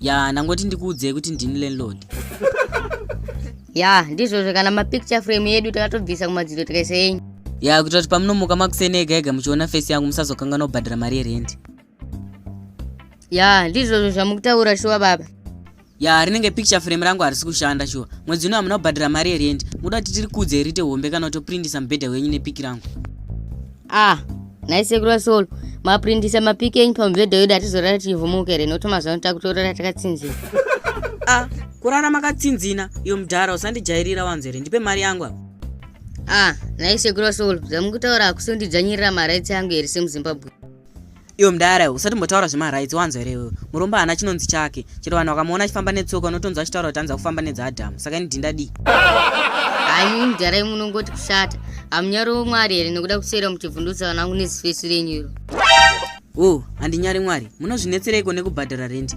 ya ndangoti ndikuudzei kuti ndini landlord ya ndizvozvo kana mapicture frame yedu takatobvisa kumadziro tikaisa yenyu ya kuitira kuti pamunomuka makuseni ega ega muchiona fesi yangu musazokanganwa kubhadhara mari yerendi ya ndizvozvo zvamukutaura shuwa baba ya rinenge picture frame rangu harisi kushanda shuwa mwedzi uno hamuna kubhadhara mari yerendi muda kuti tiri kudze rite hombe kana kutoprindisa mubhedha wenyu nepiki rangu ah nhai sekuru vasolo maprindisa mapiki enyu pamubhedha wedu hatizorara tichivhumuka here nokuti mazuva ano takutorara takatsinzina a ah, kurara makatsinzina iyo mudhara usandijairira wanzo here ndipe mari yangu apa a ah, nhai sekuru vasolo zvamukutaura hakusi kundidzvanyirira maraitsi yangu here semuzimbabwe Iwe mdara iwe usatimbotaura zvemarights wanzwa here iwewe. Murombo haana chinonzi chake. Chero vanhu vakamuona achifamba netsoka unotonzwa achitaura kuti anza kufamba nedzaAdam. Saka ini dhinda dii? Hayi mdara imwe unongoti kushata. Hamunyari womwari here nekuda kuswera muchivhundutsa vana vangu nezifesi renyu iro. Wo, handinyari mwari. Munozvinetsereiko nekubhadhara rent?